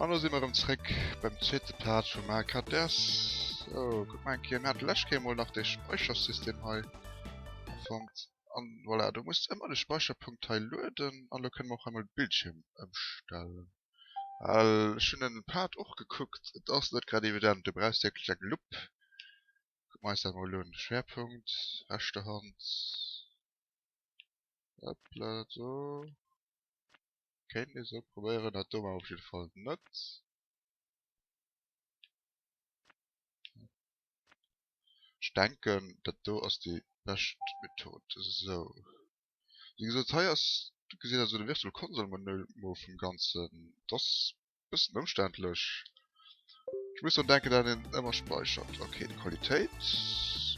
An do si mer ëm zréck beim zweete Part vum AKDS. So, guck mal enke, mir hate lech Kéier mol nach de Späichersystem hei fonnt. An voilà, do muss ëmmer de Späicherpunkt hei lueden. An elo kënne mer och hei mol de Bildschierm ëmstellen. Well ech hunn en Pad och gekuckt, et ass net grad evident, do brauchs de wierklech eng Lupp. Kucke mer eis dat mol un, Schwerpunkt, rechter Hand, hoppla do, kéint ee sou probéieren, dat do maache ech op jidde Fall net. Ech denken, dat do ass déi bescht Method, esou. Wéi gesot, hei ass, do gesitt der esou de Virtual Console Menümo vum Ganzen. Et ass e bëssen ëmständlech. Ech muss drun denken, dat een ëmmer späichert. Ok, d'Qualitéit,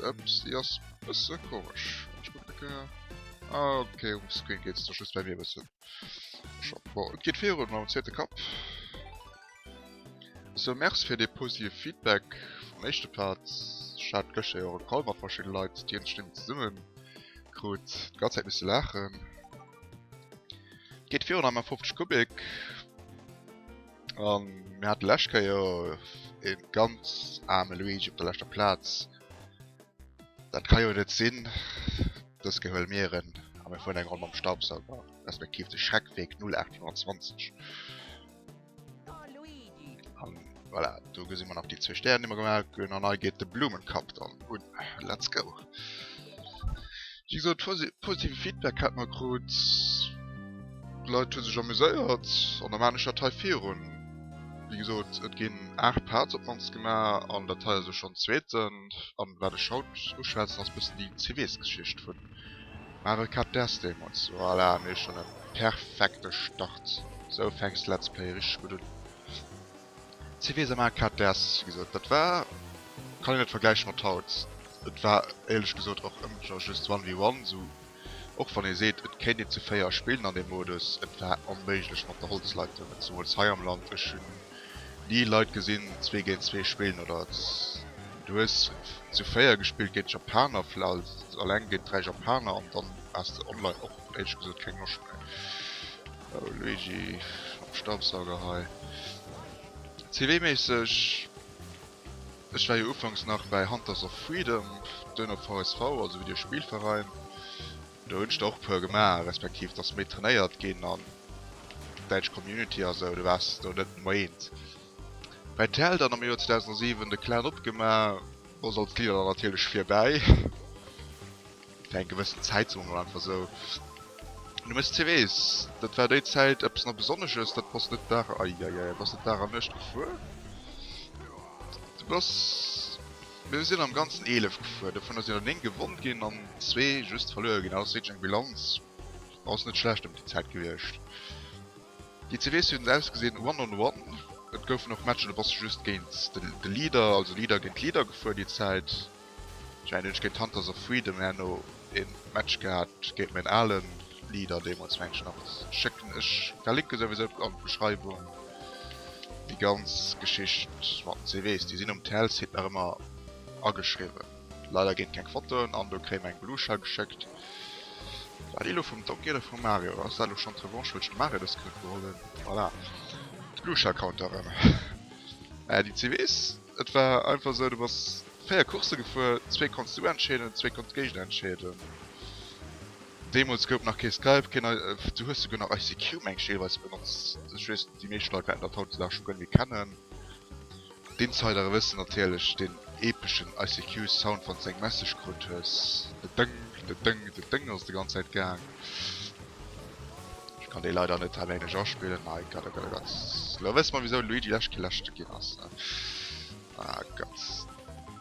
ups, déi ass e bësse komesch. Ech kucken e Kéier. Ah, ok, um Screen geet se da just bei mir e bëssen scho. Bon, et geet virun mam zweete Kapp. So merci fir dee positive Feedback vum éischte Part. Ech hat gëschter jo och e Call mat verschidde Leit, déi énlech Stimmen zesumme krut. Déi ganz Zäit misse laachen. Geet virun am M50 Kubik. An mir hate lescht Kéier e ganz aarme Luigi op der leschter Plaz. Dat ka jo net sinn. Dës Kéier huele mir en a mir fueren eng Ronn mam Staubsauger, respektiv de Schreck-Weg 0820. Voilà, do gesinn man nach déi zwee Stären, déi mer gemaach hunn. An hei geet de Blumenkapp dann un. Let's go! Wéi gesot, positive Feedback hat mer krut. D'Leit hu sech amuséiert an da maan ech dat hei virun. Wéi gesot, et ginn 8 Parts op d'mannst gemaach an dat hei ass jo schonn d'zweeten. An wat ech haut uschwätzen, ass e bëssen déi CW-Geschicht vun Maach e Cut däers deemols. Voilà, mir schon e perfekte Start. Sou fänks d'Let's Play richteg gutt un. Cvsa maach e Cut däers. Wéi gesot, dat war, kann een net vergläiche mat haut. Et war éierlech gesot och ëmmer nach just one vs one, sou och wann ee seet et kéint een zu véier spillen an deem Modus. Et war onméiglech mat der Holzleitung, et zemols hei am Land. Ech hunn Déi Leit gesinn zwee géint zwee spillen oder du hues zu véier gespillt géint Japaner vläicht alleng géint dräi Japaner an dann has de online och éirlech gesot keng Loscht méi. Oh Luigi mam Staubsauger hei. CW-méisseg, ech war jo ufanks nach bäi Hunters of Freedom, duerno VSV, also Videospillverein. Do hunn ech der och e puer gemaach, respektiv et ass méi trainéiert ginn an däitsch Community a sou, du waars do net moeint bäi tel. Dann am Joer 2007 de Clan opgemaach, do sollt d'Lieder dann natierlech virbäi fir eng gewëssen Zäit, soe mer mol einfach sou. Du mess ze weess, dat war déi Zäit eppes na Besonnesches, dat bass net Dag, eieiei, bass net Dag an Nuecht gefuer, du bass. Mir sinn am ganzen 11 gefuer, dovunner sinn der 9 gewonn ginn an zwee just verluer ginn. Ass wierklech eng Bilanz, ass net schlecht ëm déi Zäit gewiescht. Déi zwee Reese hunn ausgesinn one on one, et goufen och Matcher, do bass de just géint de Leader, also Leader géint Leader gefuer déi Zäit. Ech mengen ech géint Hunters of Freedom herno. een Match gehat géint mäin alen Leader deemols mengen nach schécken ech Verlinken souwisou an d'Beschreibung déi ganz Geschicht mat den CVs déi sinn um TL Site nach ëmmer ageschriwwen leider ginn keng Fotoen an do kréie mer eng Beluga geschéckt war déi lo vum Donkey oder vum Mario ass dat lo schonn d'Revanche wëll ech dem Mario dës Kéier geholl hunn voilà d'Beluga Counter erëm mä déi CVs Et war einfach esou, du bass 4 Course gefuer, zwee konns du entscheeden, zwee konnt d'Géigner entscheeden. Deemools gouf nach kee Skype, keen I, du hues souguer nach ICQ mengt ech deelweis benotzt. Ech weess, déi meescht Leit wäerten dat hautdesdaags scho guer net méi kennen. D'Insidere wëssen natierlech deen epeschen ICQ-Sound, wann s de eng Message krut hues, de Dëng, de Dëng, de Dëng ass de ganz Zäit gaang. Ich kann dee leider net alléineg aspillen. Nei Gott, oh Gott, oh Gott. Lo wëss mer, wieso Luigi lech geläscht ginn ass. Ne? Ah Gott.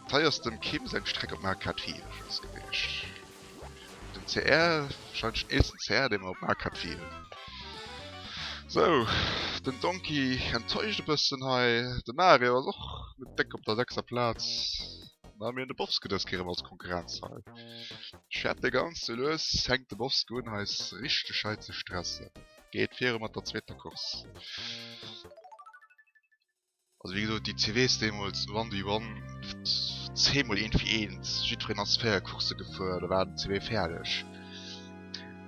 Teiers dem Kim seng Streck op Markat 4 ass gewiescht. Den CR, wahrscheinlich den eelsten CR, den mer op Markat 4 hunn. So, den Donkey enttäuscht e bëssen hei. De Mario ass och net déck op der sechster Plaz. Mä mir hunn de Bowskidisc erëm als Konkurrenz hei. Schäppe ganz ze lues, fänkt de Bosk un eis richteg hei ze stressen. Geet viru mat der zweeter Course. Also wéi gesot déi CWs deemools 1v1 10 mol eent fir eent, jiddwereen ass 4 Coursse gefuer, da war den CW fäerdeg.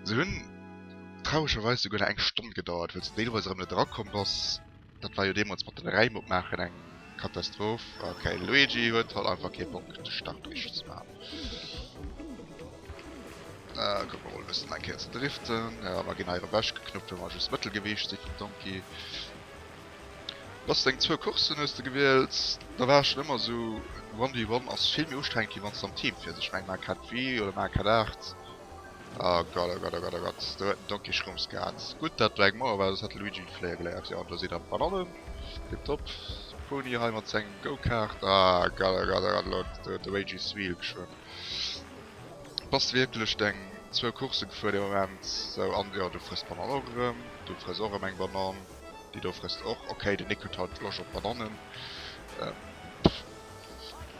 Se hunn trauregerweis souguer nach eng Stonn gedauert, well s du deelweis erëm net erakomm bass. Dat war jo deemols mat den Räim opmaachen eng Katastroph. Ok, Luigi huet halt einfach kee Bock de Start richteg ze man. Äh, kuck mer mol bessen eng Kéier ze driften. Ja, mer ginn hei ewech geknuppt well mer just Mëttelgewiicht si vum Donkey. Bass deng zwou Coursen hues de gewielt, da war ech schon ëmmer sou, One v One ass vill méi ustrengend wéi wann s de am Team fir sech, meng Mack hat Wii oder Mack hat 8. Oh Gott, oh Gott, oh Gott, oh Gott, do huet den Donkey Schrumps gehat. Gutt, datt Black Moore war, soss hätt de Luigi de Fléier geléiert. Jo, an do sidd der mat allem. Tiptop. De Pony hei mat sengem Go-Kart. Ah Gott, oh Gott, oh Gott, elo huet de Luigi Swiel geschwëmmt. Bass wierklech deng zwou Coursse gefuer dee Moment? Sou, an jo, du frëss d'Bananen och erëm. Du frëss och erëm eng Banann. Déi do frësst och. Ok, den Nick huet haut d'Losch op Banannen.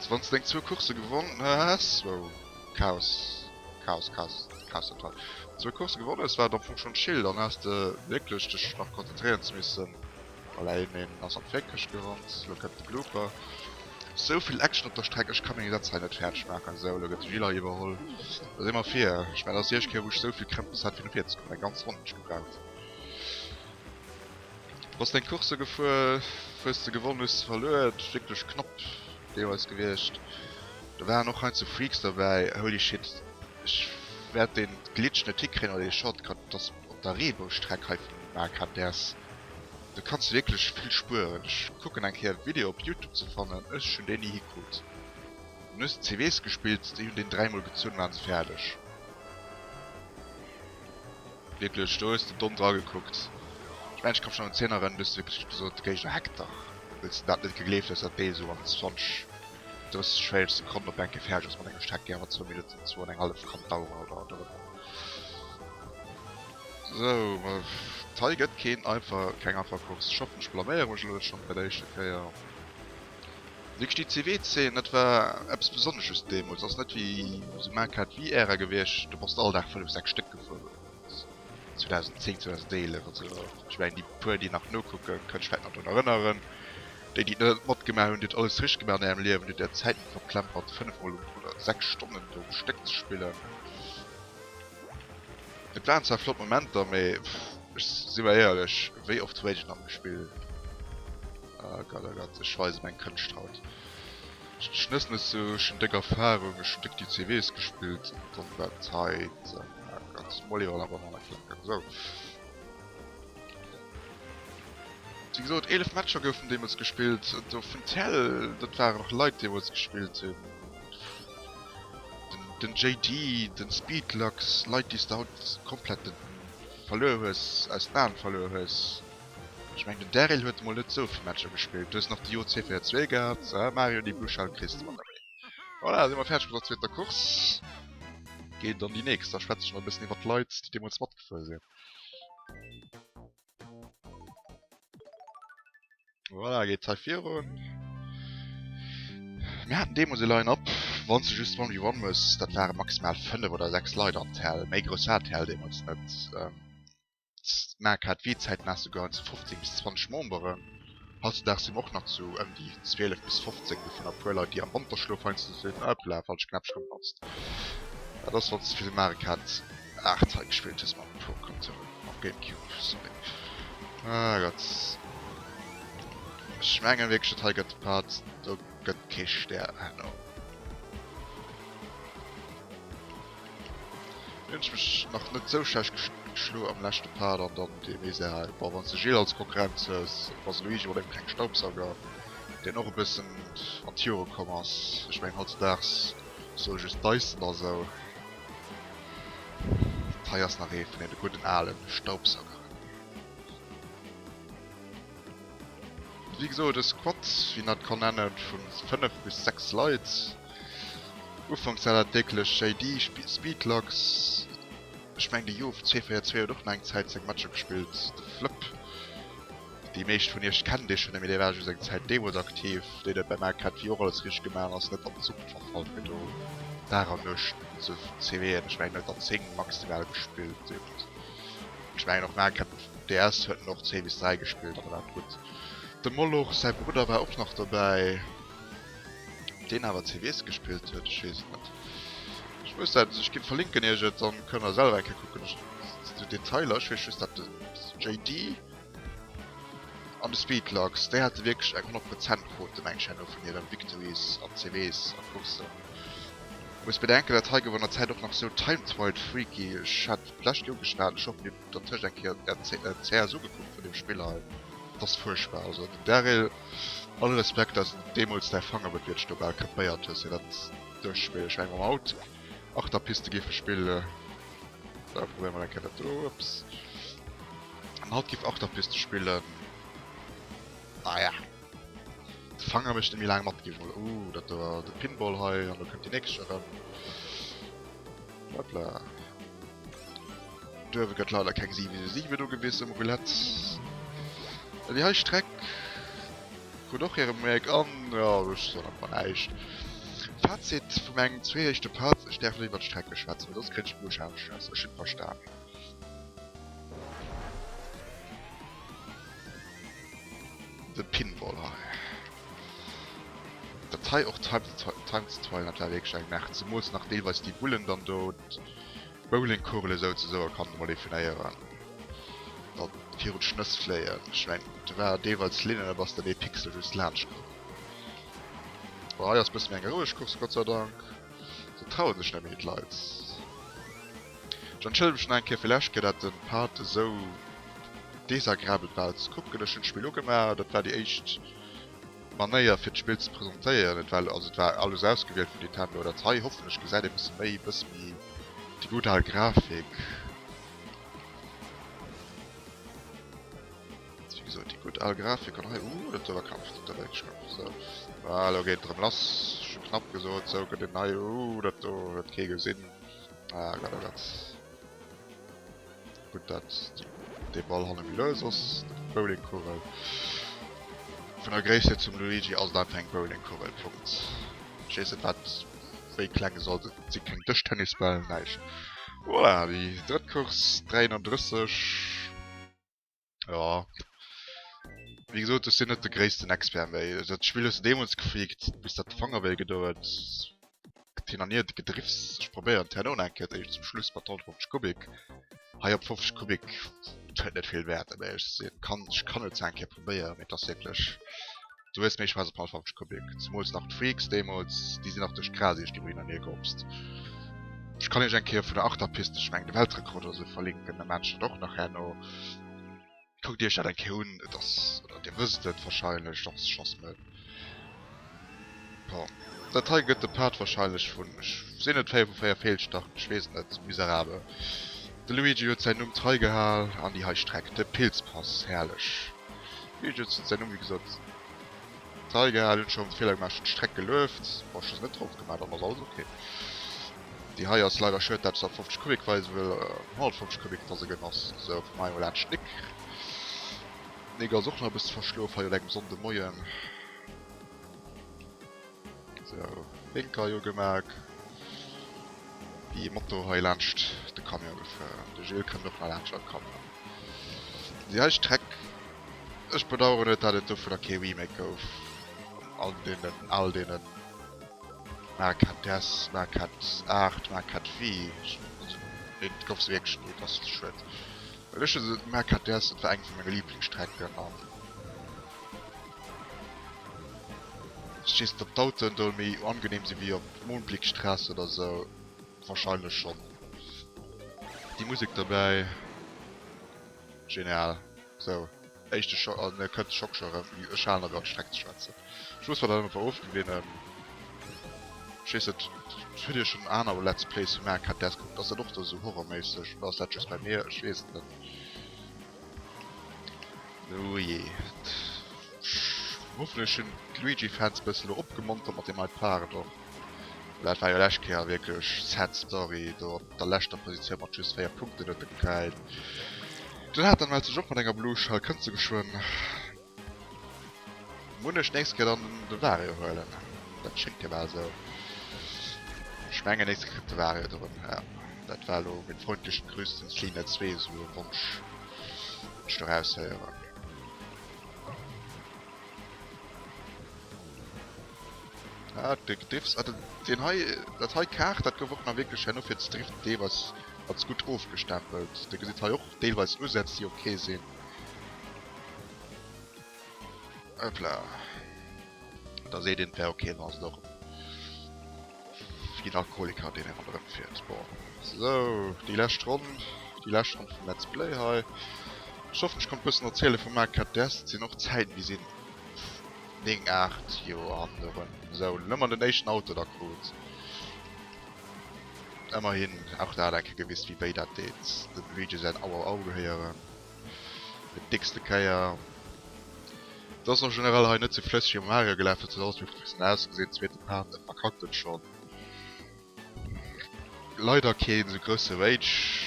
Wann s de deng zwou Coursse gewonnen hues, wow. Chaos Chaos Chaos Chaos total zwou Course gewonnen hues war et am Fong schonn chill dann has de wierklech dech nach konzentréieren ze missen voilà een een ass an d'Féckescht gerannt lo kënnt de Blooper souvill Action op der Streck ech kann mir dat hei net fäerdeg maachen sou lo gëtt de Gilles iwwerholl da si mer vir ech mengen dat ass déi éischt Kéier wou ech souvill Krëmpes hat fir no vir ze kommen eng ganz Ronn hunn ech gebraucht. Bass deng Course gefuer, hues se gewonnen, hues se verluer, et wierklech knapp deelweis gewiecht. Do waren och heinze Freaks derbäi, holy shit ech wärt den Glitch net hikréien oder den Shortcut dass op der Reebou-Streck hei vun Markheim däers. Do kanns de wierklech vill spueren, ech kucken eng Kéier Video op Youtube ze fannen, ech hun déi ni hikrut. Dann hues de CVs gespillt, déi hun den 3 mol gezunn, waren se fäerdeg. Wierklech, do hues de domm dra gekuckt. Ech mengen ech komm schon un d'Zeen erën, du hues wierklech gesot de Géigner hackt der, wëlls de dat net gegleeft hues dat d'Bee esou an 20, 30, 40 Sekonnen op enke fäerdeg ass mat engem Stack, déi awer zwou Minutten, zwou an eng hallef kann daueren oder dorënner. Sou, ma hei gëtt keen einfach, keng einfach Course. Ech hoffen ech blaméiere mech elo net schon bei der éischter Kéier. Wéi gesteet d'CW-Zeen? Dat war eppes Besonnesches deemools. Ass net wéi esou maanch KTV-Ära gewiescht, do bass de all Dag 5, 6 Stéck gefuer. 2010, 2011 an esou. Ech mengen, déi puer, déi nach nokucken, kënne sech vläit nach drun erënneren. Déi, déi et net matgemaach hunn, Dir hutt alles richteg gemaach an Ärem Liewen. Dir hutt Är Zäit net verplempert, 5 Mol um, oder 6 Stonnen do um Stéck ze spillen. Et waren zwar flott Momenter, mee, si mer éierlech, wéi oft huet een dann gespill? Ah Gott oh Gott, ech weise meng Kënscht haut. Ech hun net sou schen déck Erfahrung, ech hun déck déi CWs gespillt dann dat heit ah Gott mol iewer awer manner klacken sou. Wéi gesot 11 Matcher goufen deemools gespillt do vun tel, dat waren och Leit deemools gespillt hun, den JD, den Speedlux, Leit déi s de haut komplett verluer hues, aus den Aen verluer hues. Ech mengen den Daryl huet mol net souvill Matcher gespillt, du hues nach de Jo C fir zwee gehat, ah Mario déi blue Schall kriss de mat ewéi. Voilà si mer fäerdeg mat der zweeter Course, geet an déi nächst, da schwätze ech nach e bëssen iwwert d'Leit déi deemools matgefuer sinn. Voilà geet hei virun, mir haten deemools e Line Up wann s de just one vs one muss, dat ware maximal 5 oder 6 Leit an d'Hell, méi grouss war d'Hell deemools net. d'Maark hat wéi d'Zäit nach souguer zu 15 bis 20 Memberen. Hautzudag si mer och nach zu ëm déi 12 bis 15, dovunner e puer Leit, déi am Wanterschlof heiansdo soen, Ah, hoppla, falscht Knäppchen gematzt. Dat ass, wann s de fir de Maarek hat 8 hei gespillt hues mam Pro Controller, mam Gamecube, sorry. Ah Gott. Ech mengen wierklech, dat hei gëtt de Part, do gëtt kee Stär herno. Hun ech mech nach net sou schlecht geschlo am läschte Part an dann dee méi se hei war wann se Gilles als Konkurrenz hues was Luigi oder eng kleng Staubsauger den och e bëssen an Tiere komm ass ech mengen haut ze daags soll just Dyson da sou hei ass nach ee vun den gudden alen Staubsauger. Wéi gesot e Squad, wéi en dat ka nennen, vu 5 bis 6 Leit. Ufanks war dat wierklech JD, Speedlux, ech mengen de Youv 242 huet och mol eng Zäit seng Matcher gespillt, de Flëpp, déi meescht vun iech kennen dee schonn, mee dee war just eng Zäit deemools aktiv, deen et beim RKTV och alles richteg gemaach ass, net an den Suppe verfall fir do Dag an Nuecht ze CWen. Ech mengen en huet der 10 maximal gespillt. Ech mengen och Nahkämpfer vum DS huet en och 10 bis 3 gespillt, awer dat gutt. Dem Moloch säi Brudder war och nach dobäi. Ob deen awer CVS gespillt huet? Ech weess et net. Ech muss dat, ech ginn verlinken iech et, dann kënnt der selwer eng Kéier kucken. Ech, déi Detailer, ech weess just dat de JD. An de Speedlocks, déi hate wierklech eng 100 Prozent Quote mengt ech no vun hiren Victories an CWs a Courssen. Muss bedenken dat hei gouf an der Zäit och nach sou timetrialed freaky, ech hat et d'lescht Joer geschwat, ech hoffen dir hutt dertëscht eng Kéier d'CRs ugekuckt vun deem Spill hei, et ass fuerchtbar, also den Daryl, all Respekt dass de deemools däi Fanger wat wierklech do bal krepéiert hues fir dat duerchzespillen, ech mengen mam Auto achter Piste géife spille. Sou, probéier mol eng Kéier dat do, ups. An haut giff Achterpiste spillen. Ah ja. De Fanger mécht net méi laang mat, giff mol. Ooh, dat do war de Pinball hei, an do kënnt déi nächst erëm. Hopla. Do uewe gëtt leider keng 7 Siwe do gewiss um Roulette. Déi hei Streck. Krut och hiren Make an jo ech soen einfach näischt. Fazit vu mengen zwee éischte Parts, ech däerf net iwwert Strecke schwätzen, well soss kritt ech Blutschadenstress, ech hunn verstan. De Pinball hei. Dat hei och Time to Time to Time to Time, dat war wierklech eng Merd, zemools nach deelweis déi Bullen dann do. Bowlingkugele souzesoe a kann emol definéieren, datt virun d'Schnëss fléien. Ech mengen, do war deelweils Linn an da bass de dee Pixel just laanscht komm. Bon, hei ass e bësse méi eng roueg Course, Gott sei Dank. Se traue sech net méi, d'Leit. Ech entschëllege mech nach eng Kéier fir lech Kéier, datt de Part esou desagrabel war ze kucken. Ech hunn d'Spill ugemaach, dat war déi éischt. Manéier fir d'Spill ze presentéieren. Et war also et war alles ausgewielt vun Nintendo. Dat hei hoffentlech gesäit ee bësse méi, bësse méi. Déi gutt al Grafik. Wéi gesot, déi gutt al Grafik an hei. Ouh, dat war knapp, dat war wierklech knapp. Sou, voilà, lo geet et erëm lass. Scho knapp gesot. Sou, gëtt een nei. Ouh, dat do huet kee gesinn. Ah Gott, oh Gott. Gutt dat dee Ball hanne méi lues ass. Bowlingkuwel. Vun der Gréisst hier zum Luigi ass et einfach eng Bowlingkuwel. Punkt. Ech weess net wat wéi kleng e soll sinn. Et si keng Dëschtennisbäll, näischt. Voilà, déi drëtt Course, 33. Jo, wéi gesot, ech sinn net de gréissten Expert, mee dat Spill hues de deemools geflikt, bis dat de Fanger wéi gedou huet. Hin an hier gedriffs, ech probéieren d'Häerner un eng Kéier, zum Schluss mat 150 Kubik, hei op 50 Kubik, huet net vill Wäert, mee ech sinn, kann, ech kann et zwar eng Kéier probéieren, mee et ass wierklech dowéinst, mee ech schmeissen op 150 Kubik, zemools nach d'Freaks deemools, déi sinn nach duerch d'Gras iech do hin an hier gehopst. Ech kann iech eng Kéier vun der Achterpiste, ech mengen de Weltrekord oder sou, verlinken, da maachen ech dat och nach herno. Kuckt Iech dat eng Kéier un, et ass, oder Dir wësst et warscheinlech, dach se schoss net. Bon, dat hei gëtt de Part warscheinlech vun, ech sinn net, 4 vu 4 Feelstarten, ech weess net, miserabel. De Luigi huet säin Numm trei gehal an déi hei Streck, de Pilzpass, herrlech. De Luigi huet säin Numm, wéi gesot, trei gehal, hunn scho Feeler gemaach, hunn d'Streck gelueft, bon, ech hu se net drop gemaach, dann ass alles ok. Déi hei ass leider schued dat se op 50 Kubik weise wëll 150 Kubik da se gëtt ass sou vu mei latscht Nick. Nick ass och nach e bësse verschlof hei un engem Sonnde Moien. Sou Blinker hei ugemaach. Déi ee Moto hei laanscht de Camion gefuer. De Gilles kënnt och nach laanscht am Camion. Déi hei Streck, ech bedaueren et dat et dovunner kee Remake gouf an deenen al deenen. Maquette des, Maquette art, Maquette vie, et gouf se wierklech ni, et ass schued, well ech hu Maquette des, et war eng vu menge Liblingsstrecken an ech weess net op d'Autoen do méi angenehm sinn wéi op Mohnblickstraße oder sou, wahrscheinlech schonn. Déi Musek dobäi, genial, sou. Éischte Schock, an e kënnt de Schock scho erëm, ech halen awer an d'Streck ze schwätzen. Schluss war dann awer of gewien, ech weess net, huet dir schonn aner Let's Plays vu mär kennt däers kuckt? Ass dat och do esou horrorméisseg oder ass dat just bei mir? Ech weess et net. Oh jee, hoffentlech hunn d'Luigi Fans bëssen elo opgemontert mat deem Hyde Park och, well dat war jo lescht Kéier wierklech sad story do. op der leschter Positioun mat just 4 Punkten huet e gekäilt. Den Nathan mellt sech och mat enger Blue Shell, kënnt se geschwënn. Muss ech nächst Kéier dann de Wario huelen? Dat schéngt jo bal esou. Ech mengen nächst Kéier kritt de Wario de Rëm, ja. Dat war elo mit freundlichen Grüßen Selina 2 esou e Wonsch, deen ech do raushéieren. Ah, de Gediffs. Ah, den, den hei, dat hei Kaart, dat gouf och nach wierklech herno fir ze driften, dee was als gutt ofgestempelt. Dir gesitt hei och deelweis Usätz, déi ok sinn. Hoppla. Da seet een, wär ok, wann ass et och fir den Alkoholiker, deen herno erëmfiert. Bon. Sou, déi lescht Ronn, déi lescht Ronn vum Let's Play hei. Ech hoffen, ech konnt bëssen erziele vum Marc Cadest. Et sinn och Zäiten, déi sinn. 9, 8 Joer hannen erëm. Esou, hunn ëmmer den éischten Auto da krut. Ëmmerhin, och der hat eng Kéier gewist, wéi wéi dat deet, dem Luigi säin Au Au Au gehéieren. Fir d'dickste Kéier. Et ass en general hei net sou flësseg ewéi mam Mario gelaf, huet sech alles méi professionell ausgesinn. Zweete Part, e verkackt et schonn. Leider keen sou grousse Rage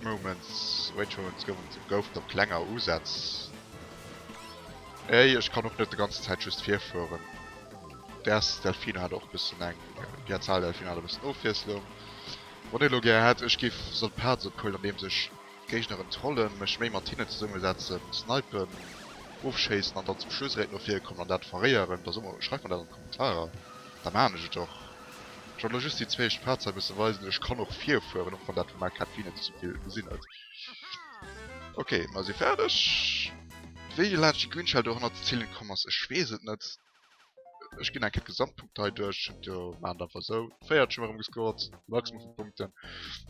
Moments, Rage Moments goufen et, goufen op klenger Usätz. Ey ech kann och net de ganzen Zäit just virfueren. Däers Delfino hat och bëssen eng, déi Azahl Delfino hat e bëssen Ofwiesslung. Wann ee lo gär hätt ech géif soll Parts ophuelen an deems ech Géigneren trollen, mech méi mat hinnen zesumme setzen, snipen, ofschéissen an dann zum Schluss erét no vir kommen an dat verréieren, da so mer, schreift mer dat an. Ah jo, da maan ech et och. Ech wollt elo just déi zwéischt Phazer bësse weisen, ech kann och vir fueren, och wann dat fir main Käppchen net ze vill gesinn huet. Ok, mer si färdeg. Wéi de Laatchi Grünschell dohannert ze zielen komm ass, ech weess et net. Ech ginn eng Kéier d'Gesamtpunkte hei duerch, jo maan et einfach esou. Véiert hu mer erëm gescored, Maximum vu Punkten.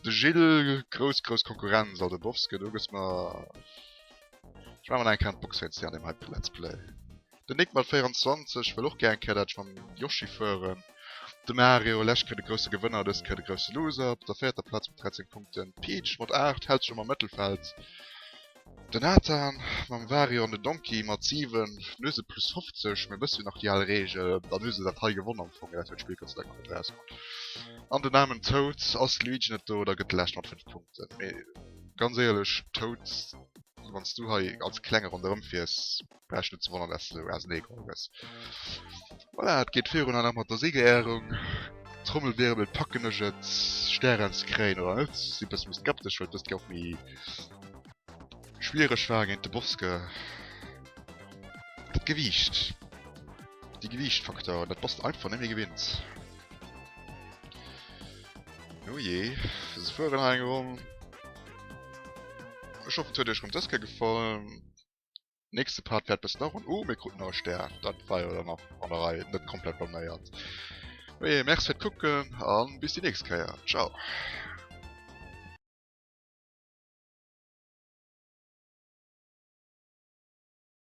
De Gilles, grouss grouss Konkurrenz, also Bovske, do gëss mer, ech maan mer nach eng Kéier an d'Box réinzéien an deem heite Let's Play. Den Nick mat 24 wëll och gär eng Kéier dat mam Yoshi fueren. De Mario, läscht Kéier de grousse Gewënner, dës Kéier de grousse Loser. Op der véierter Plaz mat 13 Punkten d'Peach mat 8, hält sech am am Mëttelfeld. Den Nathan mam Wario an den Donkey mat 7. Dann hu se plus 50, mee e bësse wéi nach déi al Reegel, dann hu se dat hei gewonn am Fong, mee dat huet d'Spill Gott sei Dank nach net erausfonnt. An den aarmen Toad, ass de Luigi net do, da gëtt de Lescht mat 5 Punkten. Mee ganz éierlech Toad, wann s du hei als Klenge ronderëmfiers, Vläicht net ze wonneren, dass du esou ausenee geholl gëss. Voilà, et geet virun hei nach mat der Siegerehrung. Trommelwirbel, packen ech et, Stären ze kréien oder net? Sinn e bësse méi skeptesch, well dëst jo och méi schwiereg war géint de Boske. Dat Gewiicht, de Gewiichtfaktor, dat bass de einfach net méi gewinnt. Oh je, se fueren hei eng Ronn. Ech hoffen, et huet iech erëm dës Kéier gefall. nächste Part fährt bis nach und oh, mir kruten nach e Stär. Dat war jo dann nach an der Rei net komplett blaméiert. Oje, oh merci fir d'Kucken an bis die nächst Kéier. Ciao.